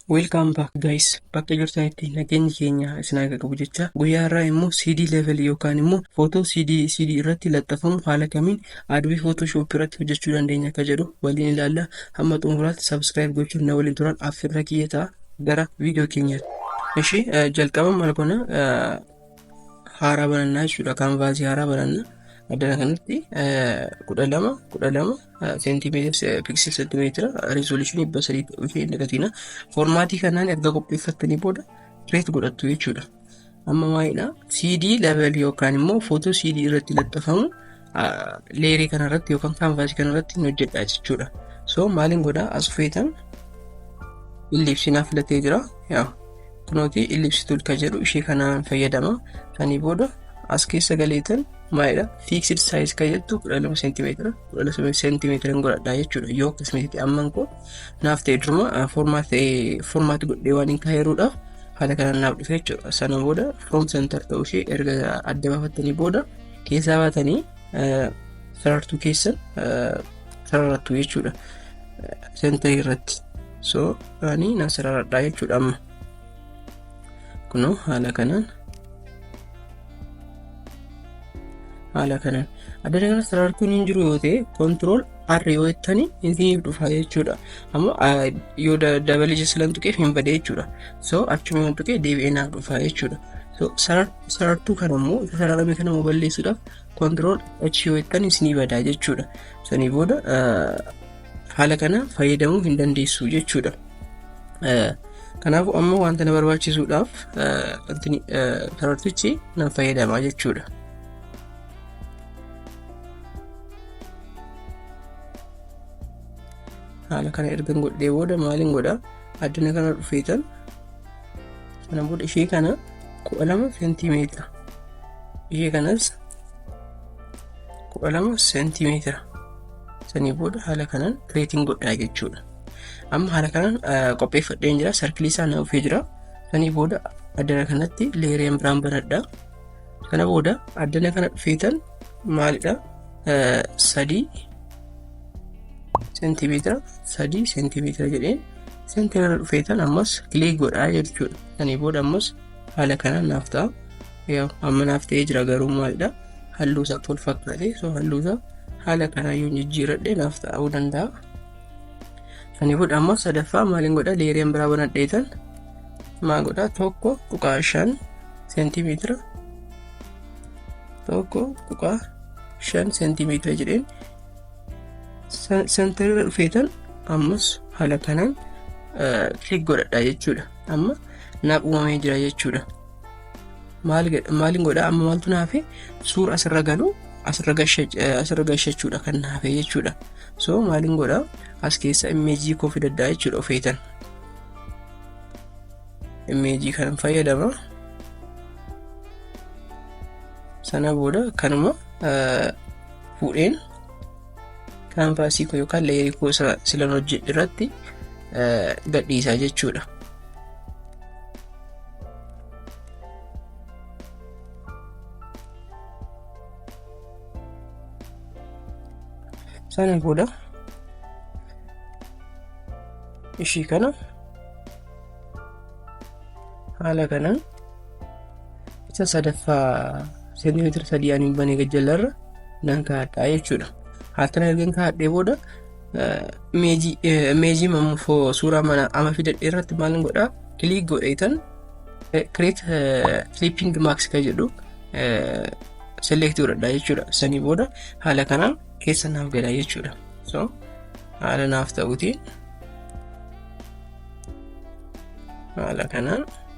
Welcome back guys. Bakka jirtanitti nageenyi keenya isin haa qabu jecha guyyaa har'aa immoo CD level yookaan immoo footoo CD CD irratti laxxafamu haala kamiin Adobe Photoshop irratti hojjechuu dandeenya akka jedhu waliin ilaalla. Hamma xumuraatti subscribe gochuun na waliin turaa affeerraa kiyya ta'a gara viidiyoo keenyaatti. Ishee jalqaba maal goona haaraa banannaa jechuudha kaanvaasii haaraa bananna addana kanatti kudha lama kudha lama seentimeetira piksel seentimeetira rizooluushinii dhibba sadii ishee hin dagatina foormaatii kanaan erga qopheeffattanii booda kireet godhattu jechuudha amma maalidha CD level yookaan immoo footoo CD irratti laxxafamu leerii kana irratti yookaan kaanvaasii kana irratti hin hojjedha jechuudha. So maaliin godhaa as feetan illipsii naaf filatee jira. Yaa kunooti illipsii tuul kan jedhu ishee kanaan fayyadama. Sanii booda as keessa galeetan maalidha fiiksed saayiz kan jettu kudha lama seentimeetira kudha lama seentimeetira hin godhadha jechuudha yoo akkasumas amman koo naaf ta'e duruma foormaati godhee waan hin kaayeruudha haala kanaan naaf dhufe jechuudha sana booda firoom sentar ta'uu ishee erga adda baafattanii booda keessaa baatanii sarartuu keessan sararattu jechuudha sentarii irratti so ani nan sararadhaa jechuudha amma kunoo haala kanaan haala kanaan adda kana sarartuun hin jiru yoo ta'e kontirool arri yoo jettanii isiif dhufa jechuudha amma yoo dabalee jessilan tuqeef hin bade jechuudha so achuma tuqee deebi'ee naaf dhufa jechuudha so sarartuu sarartuu kana immoo isa sararame kana immoo balleessuudhaaf kontirool achi yoo jettan isinii badaa jechuudha. Sanii booda haala kana fayyadamuu hin dandeessu jechuudha. Kanaafuu amma wanta na barbaachisuudhaaf sarartichi nan fayyadama jechuudha. Haala kana ergan godhee booda maaliin godha? Addina kana dhufeetan kana booda ishee kana kudha lama seentimeetira ishee kanas kudha lama seentimeetira sanii booda haala kanaan kireetiin godhaa jechuudha amma haala kanaan qopheeffadheen jira sarkilii isaa na dhufee jira sanii booda addana kanatti leereen biraan banadha kana booda addana kana dhufeetan maalidha sadii seentimeetira sadii seentimeetira jedheen seentimeetira dhufeetan ammas kilik godhaa jechuudha. Sanii booda ammas haala kanaan naaf ta'a. Yaa amma naaf ta'ee jira garuu maalidha halluu isaa tol fakkaatee so halluu isaa haala kanaan yoo jijjiiradhe naaf ta'uu danda'a. Sanii booda ammas sadaffaa maaliin godha leeriyan biraa banadheetan maa godha tokko tuqaa shan seentimeetira tokko tuqaa shan seentimeetira jedheen Santarirra dhufeetan ammas haala kanaan kilik godhadha jechuudha. Amma naaf uumamee jira jechuudha. Maaliin godhaa amma maaltu naafe suura asirra galu asirra gashachuudha kan naafe jechuudha. So maaliin godhaa as keessa immeejii koo fidadhaa jechuudha ofeetan. Immeejii kanan fayyadama. Sana booda kanuma fuudheen kaanvaasii koo yookaan leerii koo isa silan hojjedhe irratti gadhiisaa jechuudha. Sana booda ishii kana haala kanaan Isa sadaffaa seentimeetira sadii ani banee gajjallarra nan kaa'adha jechuudha. Haatana ergan kaa'adhee booda meejii mamuufoo suuraa mana ama fidadhee irratti maal godhaa kiliik godheetan kireet filiippiing maaks kan jedhu selektii godhadha jechuudha. Sanii booda haala kanaan keessa naaf gala jechuudha. So haala naaf ta'uutiin haala kanaan.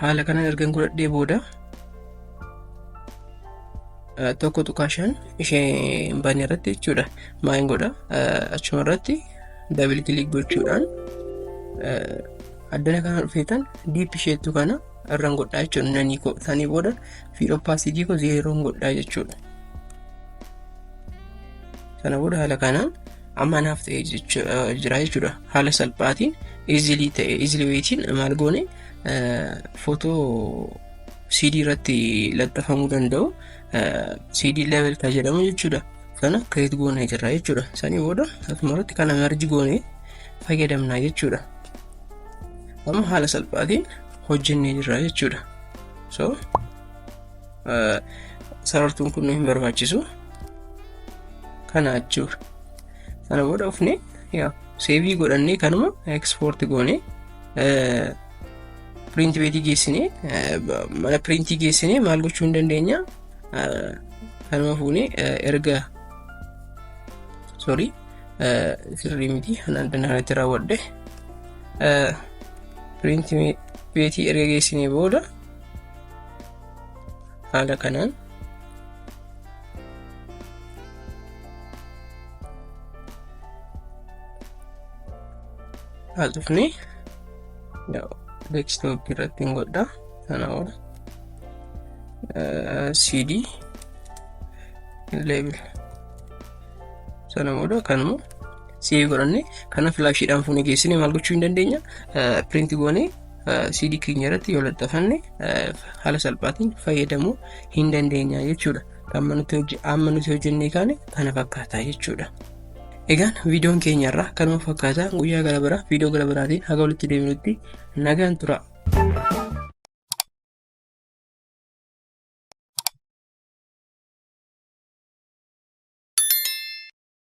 haala kanaan ergan godhadhee booda tokko tuqaa shan ishee hin banne irratti jechuudha maal godha achuma irratti dabil kilik gochuudhaan addana kana dhufeetan diip isheettu kana irraan godhaa jechuudha nanii koo sanii booda fiid oppaasitii koo zeeroon godhaa jechuudha sana booda haala kanaan amma naaf ta'e jira jechuudha haala salphaatiin easily ta'e easily wayitiin maal goone footoo CD irratti laxxafamuu danda'u CD level kan jedhamu jechuudha sana create goone jirra jechuudha sanii booda akkuma irratti kana merge goone fayyadamna jechuudha amma haala salphaatiin hojjennee jirra jechuudha so sarartuun kun hin barbaachisu kana achuu sana booda dhufne yaa seevii godhannee kanuma ekspoorti goone piriinti beetii geessine mana piriintii geessine maal gochuu hin dandeenya kanuma fuune erga sorry sirrii miti hanaan dandaanatti raawwadhe piriinti beetii erga geessinee booda haala kanaan as dhufne desktop irratti hin godha sana booda cd level sana booda kanuma save godhanne kana filaashiidhaan fuunee geessine maal gochuu hin dandeenya piriinti goonee CD keenya irratti yoo laxxafanne haala salphaatiin fayyadamuu hin dandeenya jechuudha. Amma nuti hojjennee kaane kana fakkaata jechuudha. Egaan viidiyoon keenya irraa kanuma fakkaata guyyaa gara biraa viidiyoo gara biraatiin haga walitti deebinutti nagaan tura.